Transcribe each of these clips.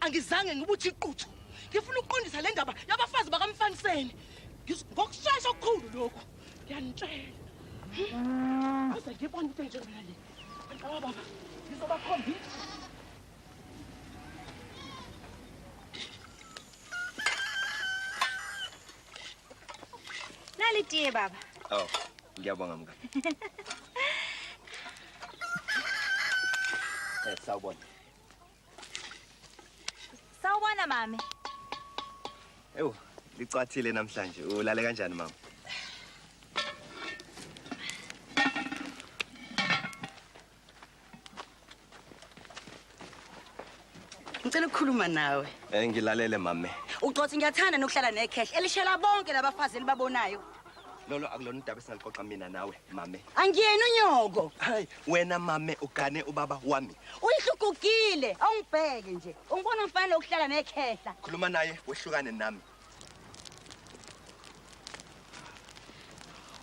angizange ngibuthi iquthu ngifuna ukuqondisa le ndaba yabafazi bakamfaniseni ngokushesha okukhulu lokhu ngiyanitshela uze ngibone into enjengana le baba baba ngizobakhombisa nali tiye baba oh ngiyabonga mka eh sawubona Sawubona mami. Ewu, licwathile namhlanje. Ulale kanjani mama? Ngicela ukukhuluma nawe. Eh ngilalele mame. Ucothi ngiyathanda nokuhlala necash elishela bonke labafazi elibabonayo. lolo akulona udaba esingaluxoxa mina nawe mame angiyena unyoko hayi wena mame ugane ubaba wami uyihlugugile awungibheke nje ungibona mfanele ukuhlala nekhehla khuluma naye wehlukane nami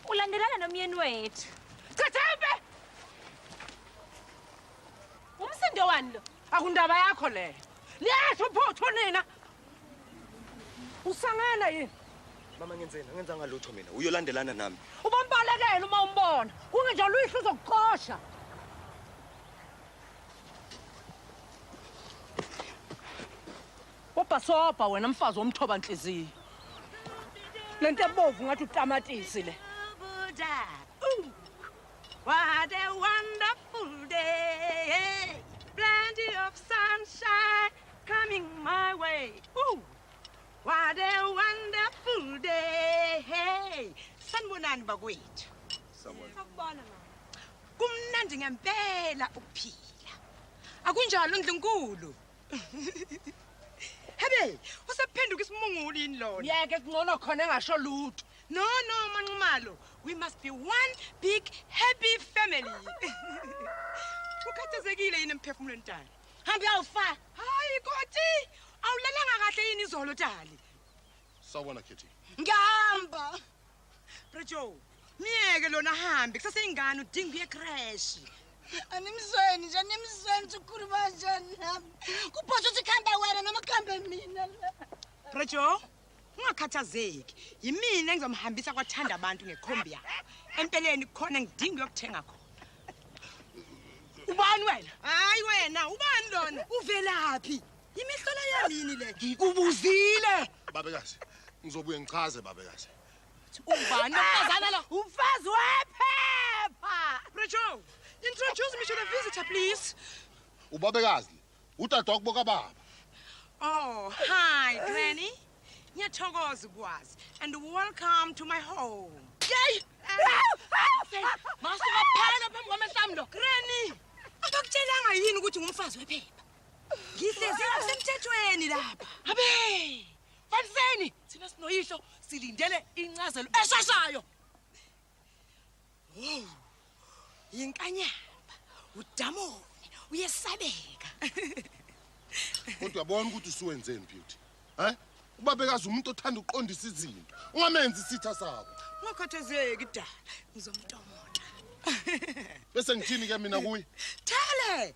ulandelana nomyeni wethu chathembe umsindo wani lo akundaba yakho leyo liyasho phuthu nina Usangana yini? Mama ngenzeni? Angenzanga lutho mina. Uyolandelana nami. Ubambalekela uma umbona. Kungenjalo uyihlo uzokuqosha. Ubhasobha wena mfazi womthoba nhliziyo. Lento ebovu ngathi utamatisi le. What a wonderful day. Plenty of sunshine. Coming my way. Ooh. What a wonderful day. Hey, sanibonani bakwethu. Sawubona. Sakubona mama. Kumnandi ngempela ukuphila. Akunjalo ndlunkulu. Hebe, usephenduka isimungulu yini lona? Yeke kungcono khona engasho lutho. No, no, Manxumalo. We must be one big happy family. Ukhathazekile yini emphefumulweni tani? Hamba uyofa. Hayi koti. Awulalanga kahle yini izolo Dali? Sawubona Kitty. Ngihamba. Prejo. Miyeke lona hambe kusase ingane udinga uye crash. Animzweni nje animzweni ukuthi ukhuluma kanjani nami. Kuphosha ukuthi kuhambe wena noma kuhambe mina la. Prejo. ungakhathazeki yimina engizomhambisa kwathanda abantu ngekhombi yakho empeleni khona ngidinga uyokuthenga khona ubani wena hayi wena ubani lona uvelaphi imihlola yalini le ngikubuzile babekazi ngizobuye ngichaze babekazi ubani umfazana lo umfazi wephepha Rachel introduce me to the visitor please ubabekazi Udadwa kubo kababa. Oh, hi Granny. Ngiyathokoza ukwazi and welcome to my home. Yey! Masuka phela phambi kwamehlambi lo. Granny, akakutshelanga yini ukuthi ngumfazi wephepha? Ngihlezi ngokusemthethweni lapha. Abe! Faniseni thina sinoyihlo silindele incazelo eshashayo. Hey. Yinkanyamba, udamone, uyesabeka. Kodwa bona ukuthi usuwenzeni beauty. Hä? Ubabekazi umuntu othanda ukuqondisa izinto. Ungamenzi isitha sakho. Ungakhathazeki dala, ngizomtomota. Bese ngithini ke mina kuye? Thale,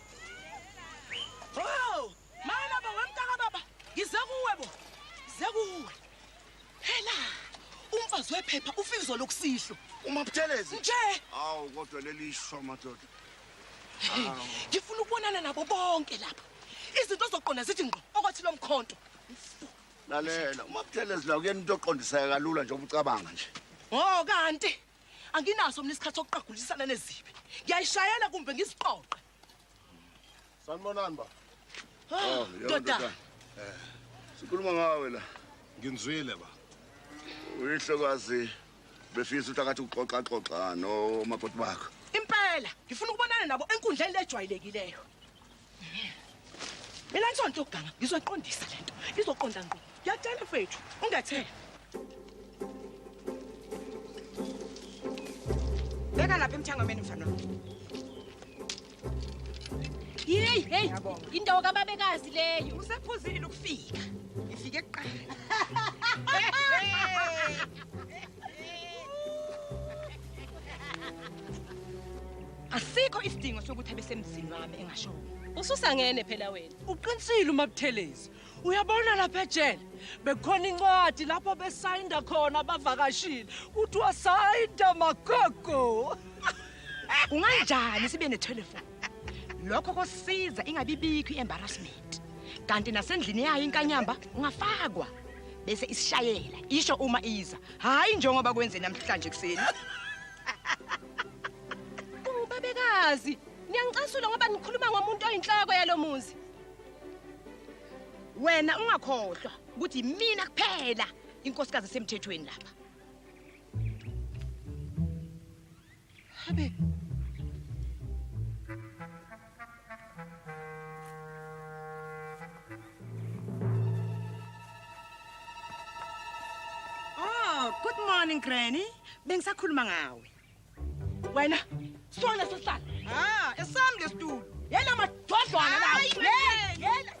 Oh! Mayela bo wemntaka baba. Ngize kuwe bo. Ngize kuwe. Phela umfazi wephepha ufika izolo kusihlo. Uma Buthelezi. Nje. Awu kodwa leli sho madoda. Ngifuna ukubonana nabo bonke lapha. Izinto zoqonda zithi ngqo okwathi lomkhonto. Lalela, uma Buthelezi la kuyena into oqondiseka kalula njengoba ucabanga nje. Oh kanti anginaso mina isikhathi sokuqagulisana nezibi ngiyayishayela kumbe ngiziqoqe sanibonani ba ah, oh, ndoda eh, sikhuluma ngawe la nginzwile ba uyihlokazi befisa ukuthi akathi uxoxaxoxa nomakoti bakho impela ngifuna ukubonana nabo enkundleni lejwayelekileyo mina ngisonto ukuganga ngizoqondisa lento izoqonda ngqo ngiyatshela fethu ungethele beka lapha emthangameni mfana yeyi heyi indawo kababekazi leyo usephuzile ukufika ifike kuqala asikho isidingo sokuthi abesemzini wami engashongo ususangene phela wena uqinisile umabuthelezi uyabona lapha ejele bekhona incwadi lapho besayinda khona abavakashile kuthiwa sayinda magogo unganjani sibe nethelefoni lokho kosiza ingabibikho i-embarrassment kanti nasendlini yayo inkanyamba ungafakwa bese isishayela isho uma iza hhayi njengoba kwenze namhlanje ekuseni ubabekazi niyangicasula ngoba nikhuluma ngomuntu oyinhloko yalo muzi wena ungakhohlwa ukuthi yimina kuphela inkosikazi esemthethweni lapha Habe. Oh, good morning Granny. Bengisakhuluma ngawe. Wena sona sesihlala. Ah, esami lesitulo. Yena madodlwana lawo. Hayi, Yena, yena.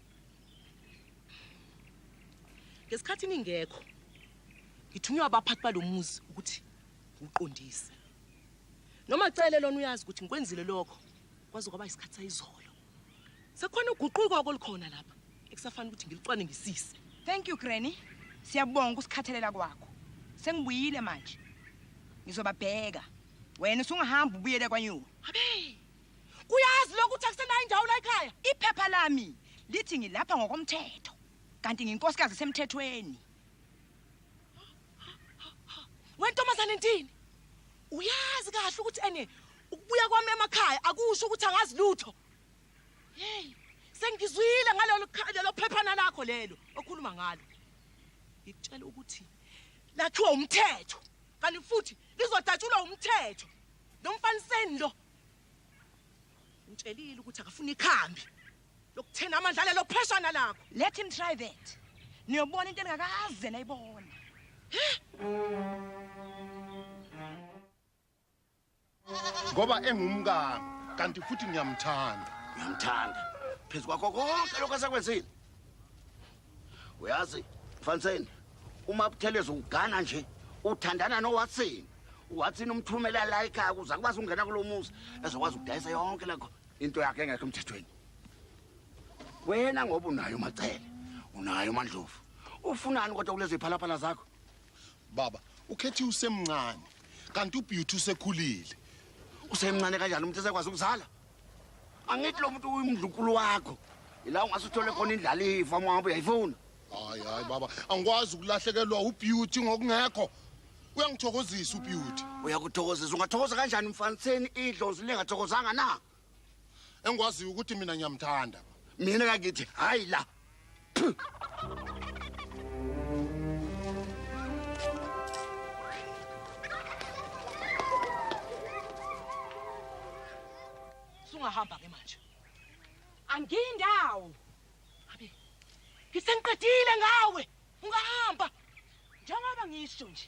ngesikhathi ningekho ngithunywa abaphathi balomuzi ukuthi ngiqondise noma cele lona uyazi ukuthi ngikwenzile lokho kwaze kwaba isikhathi sayizolo sekhona uguquko okolikhona lapha ekusafanele ukuthi ngilicwane ngisise thank you granny siyabonga usikhathelela kwakho sengibuyile manje ngizobabheka wena usungahambi ubuyele kwanyuka abe uyazi lokho ukuthi akusenayo indawo la ekhaya iphepha lami lithi ngilapha ngokomthetho kanti nginkosikazi semthethweni wentombazane ntini uyazi kahle ukuthi ene ukubuya kwami emakhaya akusho ukuthi angazi lutho hey sengizwile ngalelo lelo phephana lakho lelo okhuluma ngalo ngikutshela ukuthi lakhiwa umthetho kanti futhi lizodatshulwa umthetho nomfaniseni lo Ngitshelile ukuthi akafuni ikhambi. Lokuthena amandla lelo pheshana lakho. Let him try that. Niyobona into engakaze nayibona. Ngoba engumkami kanti futhi ngiyamthanda. Ngiyamthanda. Phezu kwakho konke lokho asekwenzile. uyazi mfaniseni uma butheleza ugana nje uthandana nowatsini watsini umthumela la ekhaya ukuze akwazi ukungena kulo muzi ezokwazi ukudayisa yonke lekho into yakhe engekho emthethweni wena ngoba unayo umacele unayo umandlovu ufunani kodwa kulezi phalaphala zakho baba ukhethi usemncane kanti ubeauty usekhulile usemncane kanjani umuntu esekwazi ukuzala angithi lo muntu uyimdlukulu wakho yila ungase uthole khona indlalifa uma ngabe uyayifuna hayi hayi baba angikwazi ukulahlekelwa ubeauty ngokungekho uyangithokozisa ubeauty uyakuthokozisa ungathokoza kanjani mfaniseni idlozi lingathokozanga na engikwaziyo ukuthi mina ngiyamthanda mina kakithi hayi la Sungahamba ke manje. Angindawo. Abi. Ngisengiqedile ngawe. Ungahamba. Njengoba ngisho nje.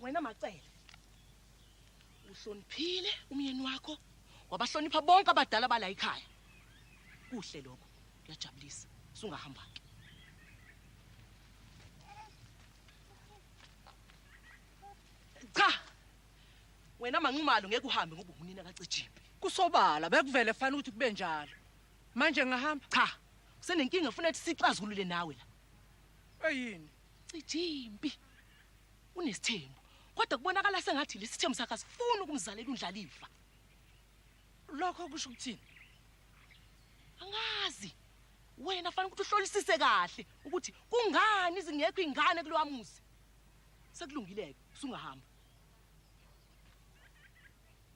wena macele uhloniphile umyeni wakho wabahlonipha bonke abadala bala ikhaya kuhle lokho kuyajabulisa sungahamba ke cha wena manqumalo ngeke uhambe ngoba unina kacijimbi kusobala bekuvele fanele ukuthi kube njalo manje ngahamba cha kusenenkinga ufuna ukuthi sixazulule nawe la Eyini? Cijimpi. Unesithembu. Kodwa kubonakala sengathi lesithembu sakhe asifuni ukumzalela undlaliva. Lokho kusho ukuthini? Angazi. Wena fanele ukuthi uhlolisise kahle ukuthi kungani izingekho ingane kulowamuzi. Sekulungile ke, usungahamba.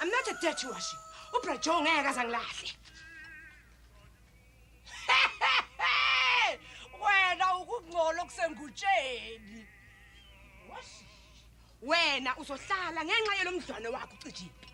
I'm not a dirty washi. Ubra Joe ngeke azangilahle. Wena ukungcola okusengutsheni. Washi. Wena uzohlala ngenxa yelomdlwane wakho ucijimpi.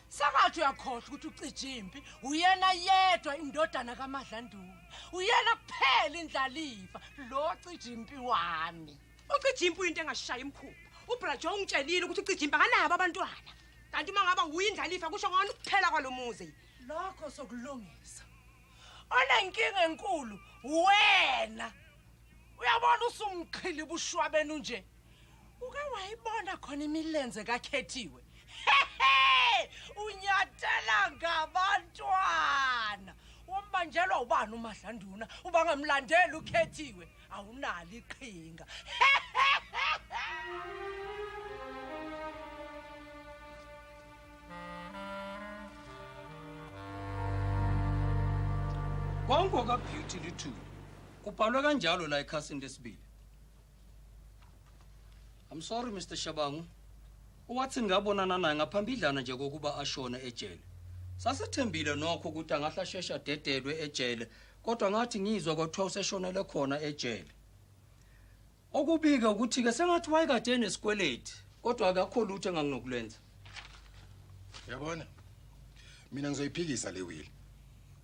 Sakathi uyakhohlwa ukuthi ucijimpi uyena yedwa indodana kaMadlandula. Uyena kuphela indlalifa lo cijimpi wami. ucijimpa uyinto engashayi imkhulu ubrajo ungitshelile ukuthi ucijimpa kanabo abantwana kanti uma ngaba wuye indlalifa kusho ngona ukuphela kwalo muzi lokho sokulungisa onenkinga enkulu wena uyabona usumqhili bushwa benu nje uke wayibona khona imilenze kakhethiwe unyatela ngabantwana wombanjelwa ubani umadlanduna ubangamlandeli ukhethiwe awunalo iqhinga konke okabeauty lithuli kubhalwe kanjalo la ekhasini lesibili i'm sorry mr shabangu owathi ngabonana naye ngaphambidlana nje kokuba ashone ejele sasethembile nokho ukuthi angahle asheshe adedelwe ejele kodwa ngathi ngizwa kwathiwa useshonele khona ejele okubike ukuthi-ke sengathi wayekade enesikweleti kodwa akakho lutho enganginokulenza yabona mina ngizoyiphikisa le wili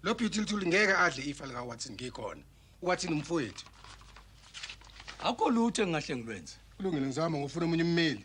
lo beautyluthuli ngeke adle ifa likawatson ngikhona uwatson umfowethu akho lutho engingahle ngilwenze kulungile ngizama ngofuna omunye ummeli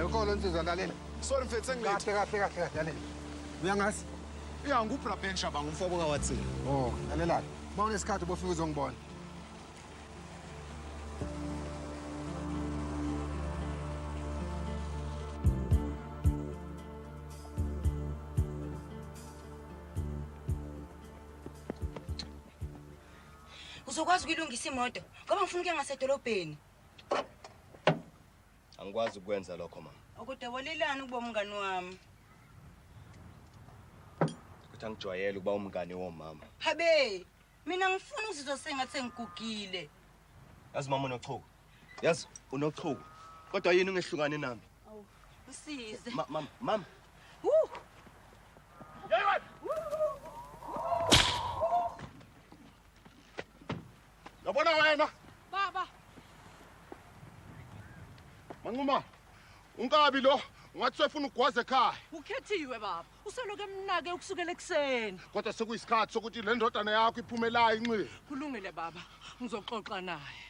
Enkolo nsizwa lalela. Sorry mfethu sengilethi. Kahle kahle kahle kahle lalela. Uyangazi? Ya ngubra Ben Shaba ngumfoko kawathi. Oh, lalela. Bawona isikhathi bofika uzongibona. uzokwazi ukuyilungisa imoto ngoba ngifuna ukuya ngasedolobheni angikwazi ukwenza lokho mama okudebolelani ukuba umngani wami ukuthi angijwayele ukuba umngani womama habe mina ngifuna ukuzizwa sengathi sengigugile yazi mama unochuku yazi unochuku kodwa yini ungehlukane nami msize Ma- mama mama Woo! yabona wena baba manquma unkabi lo ungathi sefuna ugwaze ekhaya ukhethiwe baba usoloko emnake ukusukela ekuseni kodwa sekuyisikhathi sokuthi le ndodana yakho iphumelayo inxile kulungile baba ngizoxoxa naye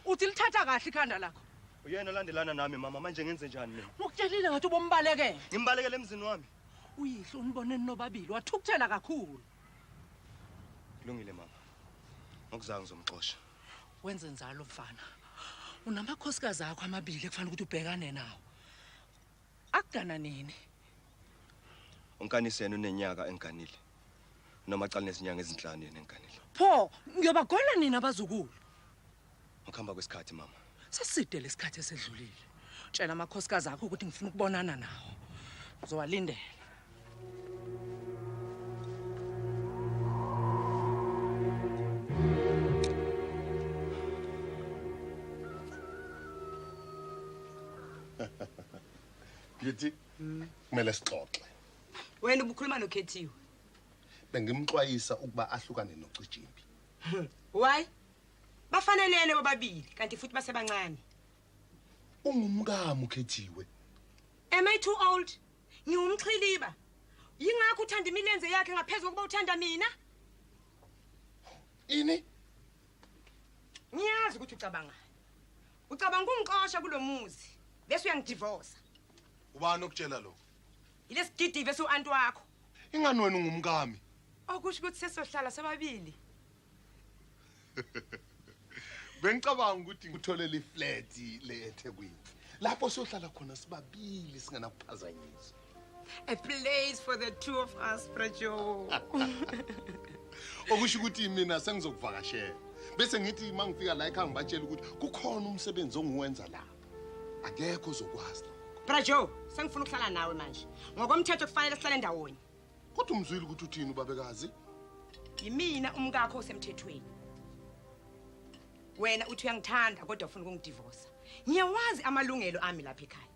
uthi lithatha kahle ikhanda lakho uyena olandelana nami mama manje ngenze njani mina ukutshelile ngathi ubombalekele ngimbalekele emzini wami uyihlo unibone ninobabili wathukuthela kakhulu kulungile mama ngokuzayo ngizomxosha wenze njalo mfana unamakhosikazi akho amabili ekufanele ukuthi ubhekane nawo Akugana nini? Unkaniseni unenyaka enganile. Noma cala nezinyanga ezinhlanu yena enganile. Pho ngiyobagona nina abazukulu. Ngokuhamba kwesikhathi mama. Saside lesikhathi esedlulile. Tshela amakhosikazi akho ukuthi ngifuna ukubonana nawo. Uzowalindela. Beauty, kumele sixoxe. wena ubukhuluma nokhethiwe Bengimxwayisa ukuba ahlukane nocijimbi. why bafanelene bobabili kanti futhi basebancane Ungumkami ukhethiwe. am i too old ngiwumxhiliba yingakho uthanda imilenze yakhe ngaphezu kokuba uthanda mina ini ngiyazi ukuthi ucabangani ucabanga ukungixosha kulo muzi bese uyangidivosa ubani okutshela lokho yilesigidive su-anti wakho ingani wena ungumkami okusho ukuthi sesohlala sobabili bengicabanga ukuthi ngitholele iflat le eThekwini lapho sohlala khona sibabili singenakuphazanyiswa a place for the two of us brajo okusho ukuthi mina sengizokuvakashela bese ngithi uma ngifika la ekhaya ngibatshela ukuthi kukhona umsebenzi ongiwenza la akekho ozokwazi brajo sengifuna ukuhlala nawe manje ngokomthetho kufanele sihlale ndawonye Kodwa umzwile ukuthi uthini ubabekazi? Yimina umkakho osemthethweni. Wena uthi uyangithanda kodwa ufuna ukungidivosa. Ngiyawazi amalungelo ami lapha ekhaya.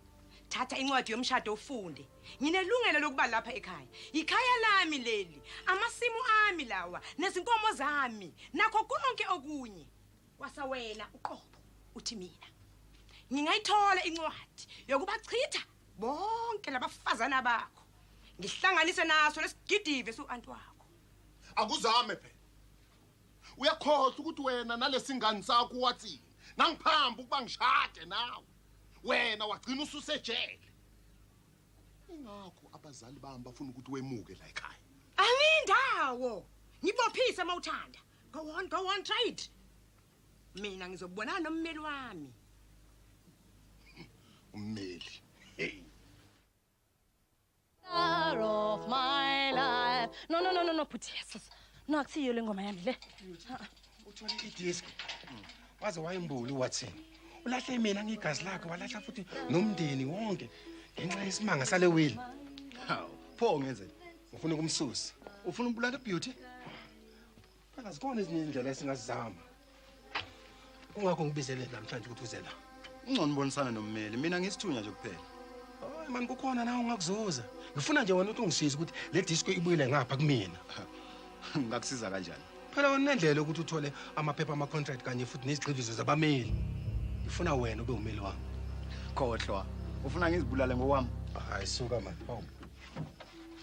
Thatha incwadi yomshado ufunde. Nginelungelo lokuba lapha ekhaya. Ikhaya lami leli, amasimu ami lawa, nezinkomo zami, nakho konke okunye. Kwasa wena uqobo uthi mina. Ngingayithola incwadi yokubachitha bonke labafazana bakho ngihlanganise naso lesigidive su-anti wakho akuzame phela uyakhohlwa ukuthi wena nalesingane sakho wathini nangiphamba ukuba ngishade nawe wena wagcina ususejele ingakho abazali bami bafuna ukuthi wemuke la ekhaya angindawo ngibophise mawuthanda go on go on try it mina ngizobonana nommeli wami ummeli hey star of my life no no no no no bhuti yesus no akusiyo le ngoma yami le uthole idisk waze wayembuli watson ulahle mina ngigazi lakhe walahla futhi nomndeni wonke ngenxa yesimanga sale wili hawu pho ngenzeni ufuna ukumsusa ufuna umbulala beauty Phela zikhona ezinye indlela esingazizama. Kungakho ngibizele namhlanje ukuthi uze la. Ungcono ubonisana nommeli, mina ngisithunya nje kuphela. Hayi man kukhona nawe ungakuzuza. Ngifuna nje wena ukuthi ungisize ukuthi le disco ibuyele ngapha kumina. Ngakusiza kanjani? Phela wena unendlela ukuthi uthole amaphepha ama contract kanye futhi nezigxivizo zabameli. Ngifuna wena ube umeli wami. Khohlwa. Ufuna ngizibulale ngokwami? Hayi suka man. Hawu.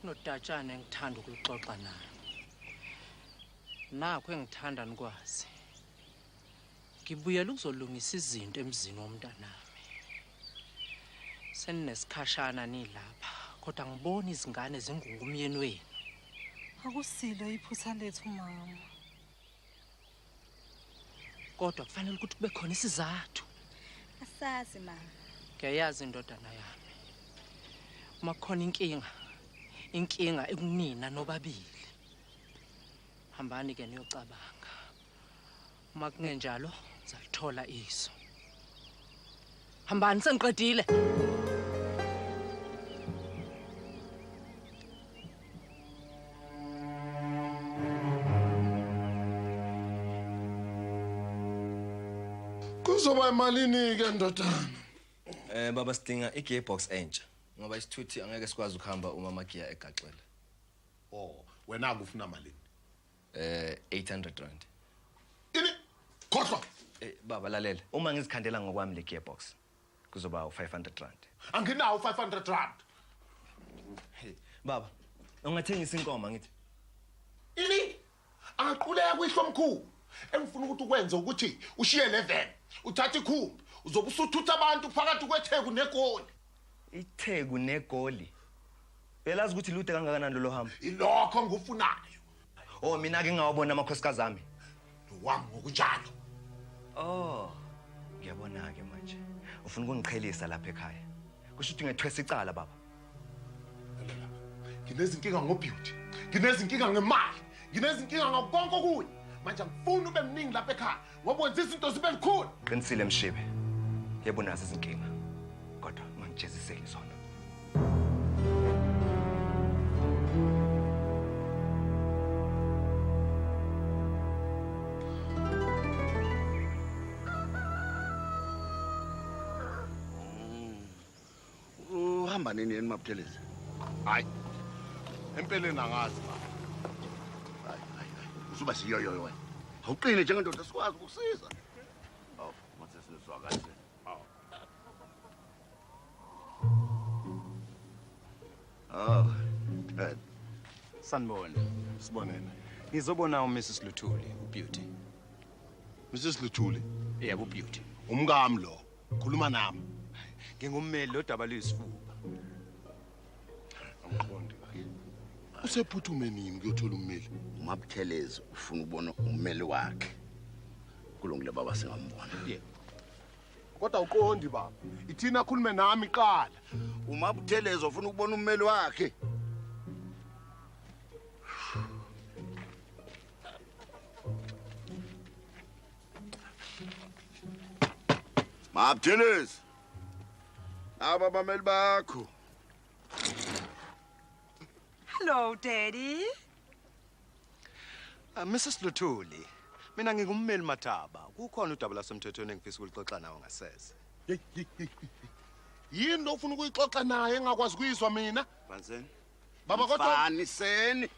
kunodatshana engithanda ukuluxoxa nayo nakho engithanda nikwazi ngibuyela ukuzolungisa izinto emzini womntanami seninesikhashana nilapha kodwa ngibona izingane zingungumyeni wenu akusilo iphutha lethu mama kodwa kufanele ukuthi kube khona isizathu asazi mama ngiyayazi indodana yami uma kukhona inkinga inkinga ekunina nobabili hambani ke niyocabanga uma kungenjalo zalithola iso hambani sengiqedile kuzoba imalini ke ndodana Eh baba sidinga igearbox entsha ngoba isithuthi angeke sikwazi ukuhamba uma magiya egaxele. Oh, wena akufuna malini? eh 800 rand ini khohlwa eh, baba lalela uma ngizikhandela ngokwami le gearbox kuzoba u500 rand anginawo 500 rand hey baba ungathengisa inkomo ngithi ini angaquleka kuyihlo omkhulu engifuna ukuthi ukwenze ukuthi ushiye le van uthathe ikhumbi uzobe usuthutha abantu phakathi kwetheku negoli itheku negoli belazi ukuthi lude kangakanani lolo hambo ilokho ngikufunayo Oh mina ke ngawabona amakhosikazi ami. Wami ngokunjalo. Oh. Ngiyabona ke manje. Ufuna ukungiqhelisa lapha ekhaya. Kusho ukuthi ngethwesa icala baba. Nginezinkinga ngobeauty. Nginezinkinga ngemali. Nginezinkinga ngakho konke okunye. Manje angifuni ube mningi lapha ekhaya. ngoba wenza izinto zibe likhulu qinisile mshibe yebo unazo izinkinga kodwa ungangijeziseli zona uhamba nini yena mabuthelezi hayi empeleni angazi baba hayi hayi hayi usuba siyoyoyo wena awuqine njengendoda sikwazi ukusiza awu mathe sizwa kahle awu awu dad sanibona sibonene ngizobona uMrs Luthuli uBeauty Mrs Luthuli yebo uBeauty umkami lo Khuluma nami. Ngingummeli lodaba luyisifuba. Angiqondi kahle. Usephuthume nini kuyothola ummeli? UMabuthelezi ufuna ukubona ummeli wakhe. Kulungile baba singambona. Yebo. Kodwa uqondi baba. Ithina akhulume nami qala. UMabuthelezi ufuna ukubona ummeli wakhe. Mabuthelezi. Aba bameli bakho. Hello daddy. Uh, ah, Mrs Luthuli, mina ngingummeli Mathaba. Kukhona udaba lasemthethweni engifisa ukulixoxa nawe ngasese. Yini lo ufuna ukuyixoxa naye engakwazi kuyizwa mina? Banzeni. Baba kodwa Mfaniseni.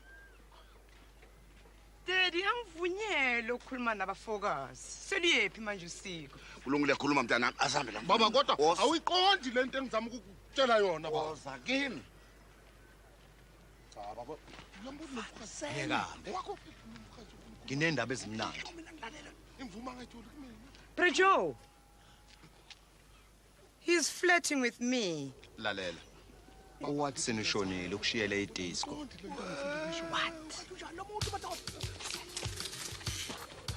Daddy angivunyele ukukhuluma nabafokazi. Seluyephi manje usiko? Kulungile khuluma mntana asambe la. Baba kodwa Woza- awuyiqondi lento engizama ukukutshela yona baba. Woza kimi. Cha baba. Uyambuza nomfazi. Ngiyekambe. Wakho umfazi ufuna Nginendaba ezimnandi. ukumina ngilalela. Imvuma ngayithola kumina. Prejo, He's flirting with me. Lalela. Uwatson ushonile ukushiyele idisco. What?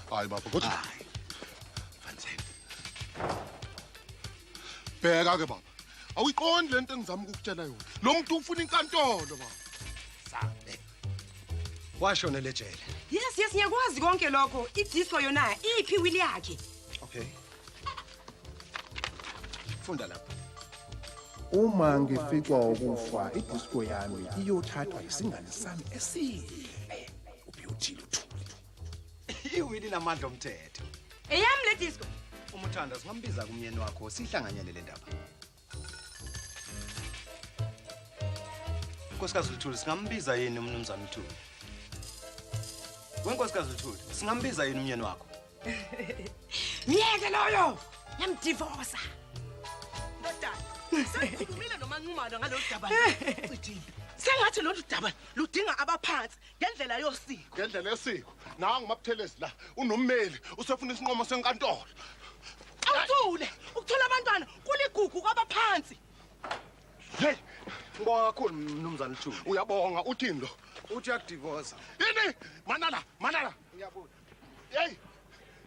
Hayi baba kodwa. Hayi. Fanzeni. Bheka ke baba. Awuyiqondi lento engizama ukukutshela yona. Lo muntu ufuna inkantolo baba. Sabe. Washona lejele. Yes, yes, ngiyakwazi konke lokho. Idisco yona iphi wili yakhe? Okay. funda lapha uma ngificwa ukufa idisco yami iyothathwa isingane sami esihle ubeauty luthuli iwini namandla omthetho eyami le disco umuthanda singambiza kumyeni wakho sihlanganyele le ndaba Nkosikazi Luthuli singambiza yini umnumzane Luthuli? Wenkosikazi Luthuli singambiza yini umyeni wakho? Myeke loyo! Yamdivosa. Ndodana, sengikhulumile noManqumalo ngalolu daba. Cijile. Sengathi lolu daba ludinga abaphansi ngendlela yosiko ngendlela yosiko nawe ngumabuthelezi la unommeli usefuna isinqumo senkantolo awuthule ukuthola abantwana kuligugu kwabaphansi hey ngibonga kakhulu mnumzane uthule uyabonga uthini lo uthi uyadivosa yini manala manala ngiyabuza Hey!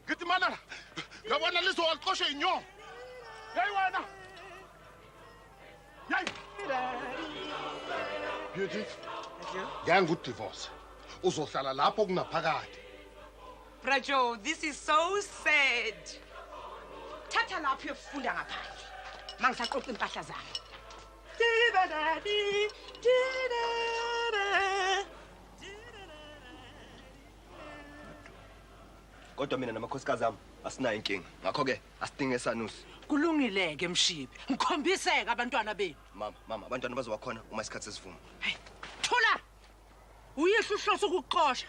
Ngithi manana, ngabona lizo walixosha inyongo. Hey wena! Hey! Beauty. Yangu divorce. Uzohlala lapho kunaphakade. Brajo, this is so sad. Thatha lapho uyofunda ngaphandle. Mangisaqoqa impahla zami. Dibadadi, didada. kodwa mina namakhosikazi ami asinayo inkinga ngakho-ke asidinge esanusi kulungile-ke mshibi ngikhombiseke abantwana benu mama mama abantwana bazobakhona uma isikhathi sesivuma hey thula uyihlo uhlose ukuxosha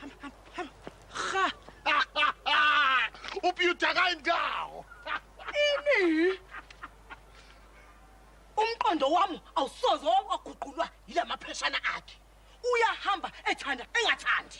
ha ubiyuda kayindawo ini umqondo wami awusoze waguqulwa yila mapheshana akhe uyahamba ethanda engathandi